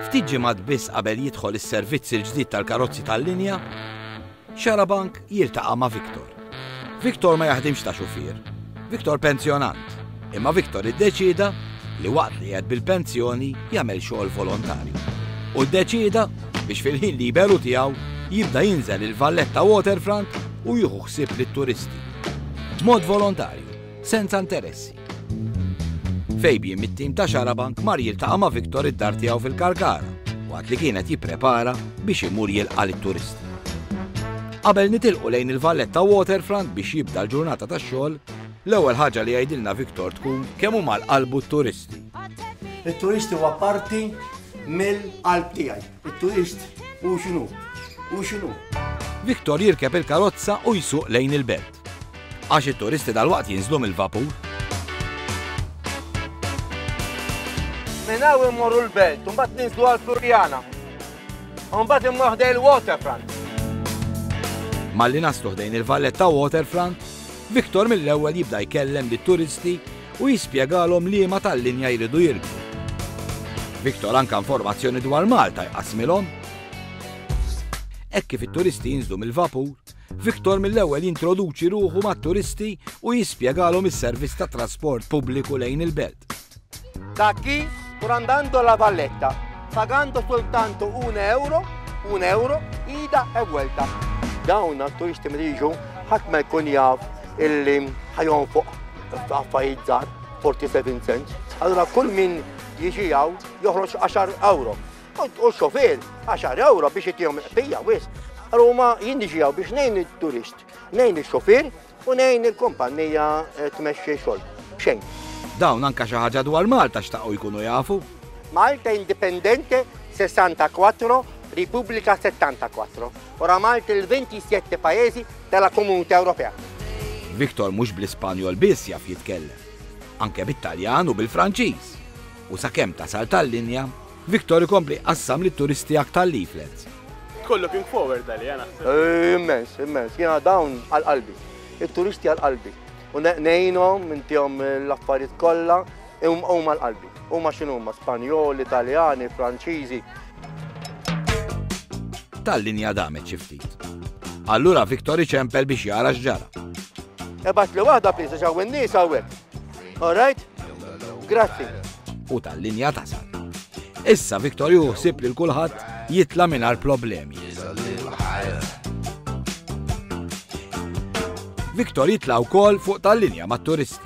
Ftit ġimgħat biss qabel jidħol is-servizz il-ġdid tal-karozzi tal-linja, Xarabank jiltaqa' ma' Victor. Victor ma jaħdimx ta' xufier. Victor pensjonant. Imma Victor iddeċieda li waqt li qed bil-pensjoni jagħmel xogħol volontarju. U ddeċieda biex fil-ħin liberu tiegħu jibda jinżel il-valletta waterfront u jieħu ħsieb lit-turisti. B'mod volontarju, senza interessi. Fabian mit-tim ta' Xarabank mar jiltaqa' ma' Victor id-dar tiegħu fil-Kalkara waqt li kienet jipprepara biex imur jilqa' lit-turisti. Qabel nitilqu lejn il-Valletta Waterfront biex jibda l-ġurnata tax-xogħol, l-ewwel ħaġa li jgħidilna Victor tkun kemm huma l-qalbu t-turisti. It-turisti huwa parti mill-qalb tiegħi. It-turist hu x'inhu? Hu x'inhu? Victor jirkeb il-karozza u jsuq lejn il-belt. Għax it-turisti dalwaqt jinżlu mill-vapur. Minn hawn immorru l-belt, u mbagħad ninżlu għal Flurjana. U mbagħad immorru ħdej il-waterfront. Malli naslu ħdejn il-valletta waterfront, Victor mill-ewwel jibda jkellem lit-turisti u jispjegalhom liema tal-linja jridu jirkbu. Victor anka informazzjoni dwar Malta jqasmilhom. Hekk kif it-turisti jinżlu mill-vapur, Victor mill-ewwel jintroduċi ruħu mat-turisti u jispjegalhom is-servizz ta' trasport pubbliku lejn il-belt. Da chi sto andando alla valletta, pagando soltanto un euro, un euro, ida e vuelta. Dawn għat-turisti mriġu ħadd ma jkun jaf illi ħajon fuq Affarijiet żgħar, 47 cents. Allura kull min jiġi hawn joħroġ 10 euro. U xofier 10 euro biex jitihom il-qbija wis. Ruma jien niġi hawn biex ngħin it-turist, ngħin ix-xofier u ngħin il-kumpanija eh, tmexxi xogħol. Xejn. Dawn anka xi ħaġa dwar Malta xtaqgħu jkunu jafu. Malta Indipendente 64, Repubblika 74. Oramai il ventisette paesi della Comunità Europea. Victor mhux bl-Ispanjol biss jaf jitkellem, anke bit-Taljan u bil-Franċiż, u sakemm tasal tal-linja, Victor ikompli jqassam lit-turisti aktar leaflets. Tkun looking forward għaliha naħseb. Immens, immens. Jiena dawn għal qalbi. It-turisti għal qalbi. U ngħinhom, intihom l-affarijiet kollha. Huma l-qalbi. Huma x'inhuma? Spanjoli, Taljani, Franċiżi. Tal-linja damet xi ftit. Allura Victor iċempel biex jara x'ġara. Ebat li waħda pisa ġaw in-nies hawnhekk. All right? Grazzi. U tal-linja tasal. Issa Victor juħsib li l-kulħadd jitla mingħajr problemi. Victor jitla wkoll fuq tal-linja mat-turisti.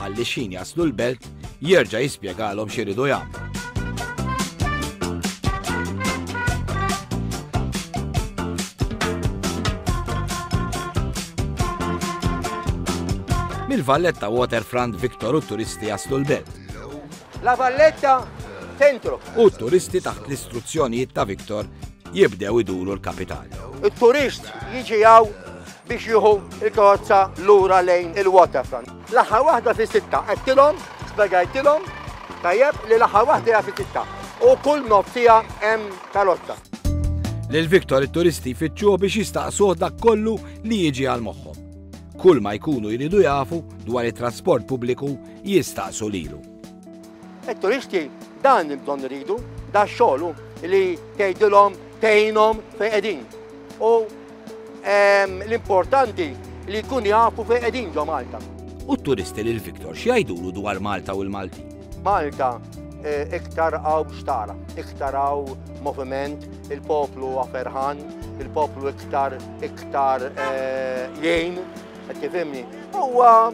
Ħalli xin jaslu l-belt, jerġa' jispjegalhom x'iridu jagħmlu. Mill-Valletta Waterfront Victor u turisti jaslu l-belt. La Valletta Centro. U t-turisti taħt l-istruzzjonijiet ta' Victor jibdew iduru l-kapitali. It-turist jiġi hawn biex jieħu l-karozza lura lejn il-waterfront. L-aħħar waħda fi sitta qedtilhom, spjegajtilhom tajjeb li l-aħħar waħda hija fi sitta u kull nofsija hemm karozza. Lil Victor it-turisti jfittxuh biex jistaqsuh dak kollu li jiġi għal moħħhom. Kull ma jkunu jridu jafu dwar it-trasport pubbliku jistaqsu lilu. It-turisti dan il-bżonn iridu, da xogħlu li tgħidilhom tgħinhom fejn qegħdin. U ehm, l-importanti li jkun jafu fejn qegħdin ġo Malta. U t-turisti lil Viktor x'jgħidulu dwar Malta u l-Malti? Malta eh, iktar għaw xtara, iktar għaw moviment, il-poplu għaferħan, il-poplu iktar iktar eh, jgħin, tifimni. Huwa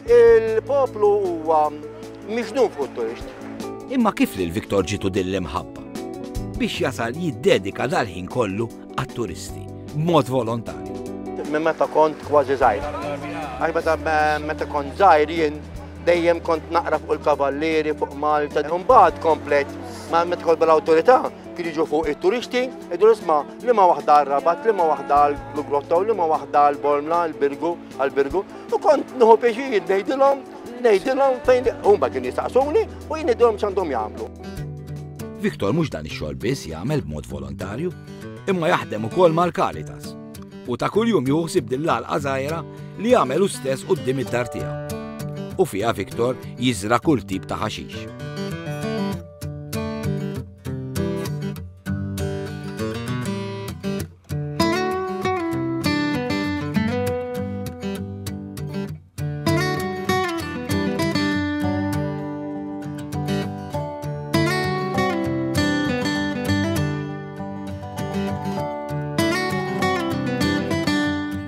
Il-poplu huwa miġnun fuq turist. Imma kif lil Viktor ġitu din l-imħabba? Biex jasal jiddedika dal-ħin kollu għat-turisti, b'mod volontarju. Minn meta kont kważi żgħir. Għax meta meta kont żgħir jien dejjem kont naqra fuq il-kavallieri fuq Malta. Imbagħad komplet ma meta kont bl-awtorità kien jiġu fuq it-turisti, idur isma' liema waħda għal rabat liema waħda għal Grotta u liema waħda għal Bormla għal Birgu għal Birgu. U kont nħu pieċir ngħidilhom, ngħidilhom fejn huma kien jistaqsuni u jien ngħidilhom x'għandhom jagħmlu. Viktor mhux dan ix-xogħol biss jagħmel b'mod volontarju, imma jaħdem ukoll mal-Karitas. U ta' kuljum juħsib din l-għalqa żgħira li jagħmel stess quddiem id-dar tiegħu. U fiha Viktor jiżra kull tip ta' ħaxix.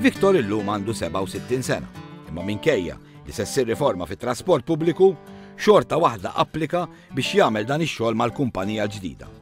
Viktor illum għandu 67 sena, imma minkejja li se ssir riforma fit-trasport pubbliku, xorta waħda applika biex jagħmel dan ix-xogħol mal-kumpanija ġdida.